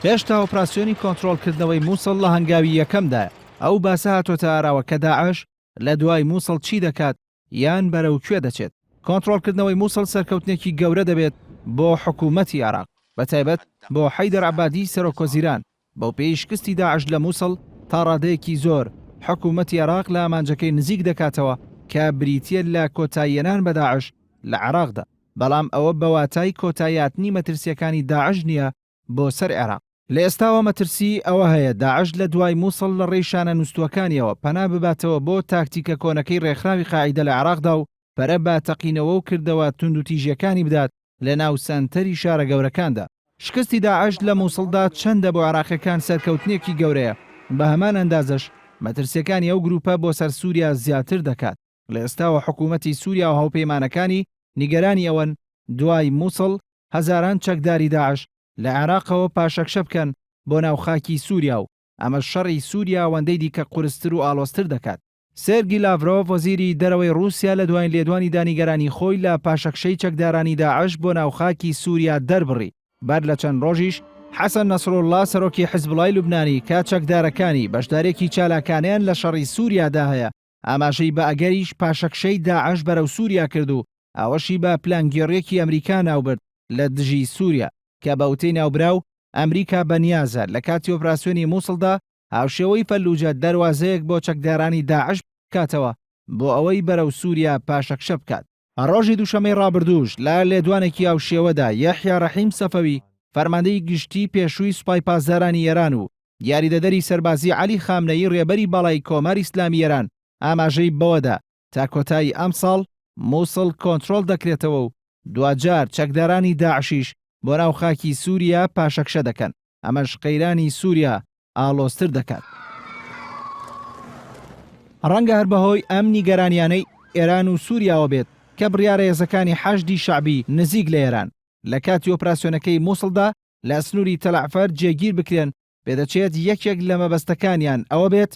هێشتا ئۆپراسیۆنی کۆنترۆڵکردنەوەی مووسڵ لە هەنگاوی یەکەمدایە، ئەو باسە هاتۆتە ئاراوە کە داعش لە دوای مووسڵ چی دەکات یان بەرەو کوێ دەچێت. کۆنترۆڵکردنەوەی مووسڵ سەرکەوتنێکی گەورە دەبێت بۆ حکوومەتی عێراق، بەتایبەت بۆ حەیدەر عەبادی سەرۆکوەزیران، بەوپێیەی شکستی داعش لە موسڵ تا ڕادەیەکی زۆر حکومەتی عێراق لە ئامانجەکەی نزیک دەکاتەوە کە بریتییە لە کۆتاییهێنان بە داعش لە عێراقدا، بەڵام ئەوە بە واتای کۆتاییهاتنی مەترسییەکانی داعش نییە بۆ سەر عێراق. لە ئێستاوە مەترسیی ئەوە هەیە داعش لە دوای موسڵ لە ڕێی شانە نووستووەکانییەوە پەنا بباتەوە بۆ تاکتیکە کۆنەکەی ڕێکخراوی قاعیدە لە عێراقدا و پەرە بە تەقینەوە و کردەوە توندوتیژییەکانی بدات لەناو سەنتەری شارە گەورەکاندا. شکستی داعش لە موسڵدا چەندە بۆ عێراقییەکان سەرکەوتنێکی گەورەیە، بە هەمان ئەندازەش مەترسییەکانی ئەو گرووپە بۆ سەر سووریا زیاتر دەکات، لە ئێستاوە حکوومەتی سووریا و هاوپەیمانەکانی نیگەرانی ئەوەن دوای موسڵ هەزاران چەکداری داعش لە عێراقەوە پاشەکشە بکەن بۆ ناو خاکی سووریا و ئەمەش شەڕی سووریا ئەوەندەی دیکە قورستر و ئاڵۆزتر دەکات. سێرگی لاڤرۆڤ وەزیری دەرەوەی ڕووسیا لە دوایین لێدوانی دا نیگەرانی خۆی لە پاشەکشەی چەکدارانی داعش بۆ ناو خاکی سووریا دەربڕی، بەر لە چەند ڕۆژیش حەسەن نەسروڵڵا سەرۆکی حزبوڵڵای لوبنانی کە چەکدارەکانی بەشدارێکی چالاکانەیان لە شەڕی سووریا دا هەیە ئاماژەی بە ئەگەریش پاشەکشەی داعش بەرەو سووریا کرد و ئەوەشی بە پلانگێڕیەکی ئەمریکا ناو برد لە دژی سووریا کە بە وتەی ناوبراو ئەمریکا بە نیازە لە کاتی ئۆپراسیۆنی موسڵ دا هاوشێوەی فەلوجە دەروازەیەک بۆ چەکدارانی داعش بکاتەوە بۆ ئەوەی بەرەو سوریا پاشەکشە بکات. ڕۆژی دووشەمەی ڕابردووش لە لێدوانێکی هاوشێوەدا یەحیا ڕەحیم سەفەوی فەرماندەی گشتی پێشووی سوپای پاسدارانی ئێران و یاریدەدەری سەربازی عەلی خامنەیی ڕێبەری باڵای کۆماری ئیسلامی ئێران ئاماژەی بەوەدا تا کۆتایی ئەمساڵ مووسڵ کۆنترۆڵ دەکرێتەوە و دواجار چەکدارانی داعشیش بۆ ناو خاکی سووریا پاشەکشە دەکەن، ئەمەش قەیرانی سووریا ئاڵۆزتر دەکات. ڕەنگە هەر بەهۆی ئەم نیگەرانییانەی ئێران و سووریاوە بێت کە بڕیارە هێزەکانی حەشدی شەعبی نزیک لە ئێران لە کاتی ئۆپراسیۆنەکەی مووسڵدا لە سنووری تەلەعفەر جێگیر بکرێن پێدەچێت یەکێک لە مەبەستەکانیان ئەوە بێت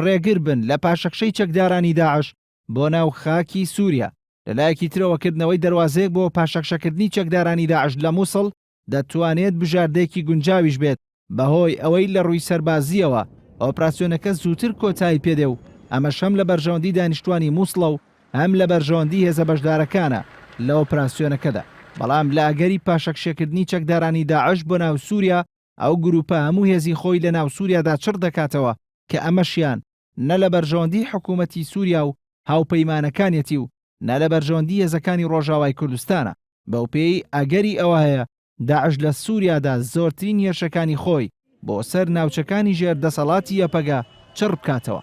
ڕێگر بن لە پاشەکشەی چەکدارانی داعش بۆ ناو خاکی سووریا، لە لایەکی ترەوە کردنەوەی دەروازەیەک بۆ پاشەکشەکردنی چەکدارانی داعش لە مووسڵ دەتوانێت بژاردەیەکی گونجاویش بێت، بەهۆی ئەوەی لە ڕووی سەربازییەوە ئۆپراسیۆنەکە زووتر کۆتایی پێدێ و ئەمەش هەم لە بەرژەوەندی دانیشتووانی مووسڵە و هەم لە بەرژەوەندی هێزە بەشدارەکانە لە ئۆپراسیۆنەکەدا. بەڵام لە ئەگەری پاشەکشەکردنی چەکدارانی داعش بۆ ناو سووریا، ئەو گرووپە هەموو هێزی خۆی لە ناو سووریادا چڕ دەکاتەوە کە ئەمەشیان نە لە بەرژەوەندیی حکوومەتی سووریا و هاوپەیمانەکانیەتی و نە لە بەرژەوەندیی هێزەکانی ڕۆژاوای کوردستانە. بەو پێیەی ئەگەری ئەوە هەیە داعش لە سووریادا زۆرترین هێرشەکانی خۆی بۆ سەر ناوچەکانی ژێر دەسەڵاتی یەپەگە چڕ بکاتەوە.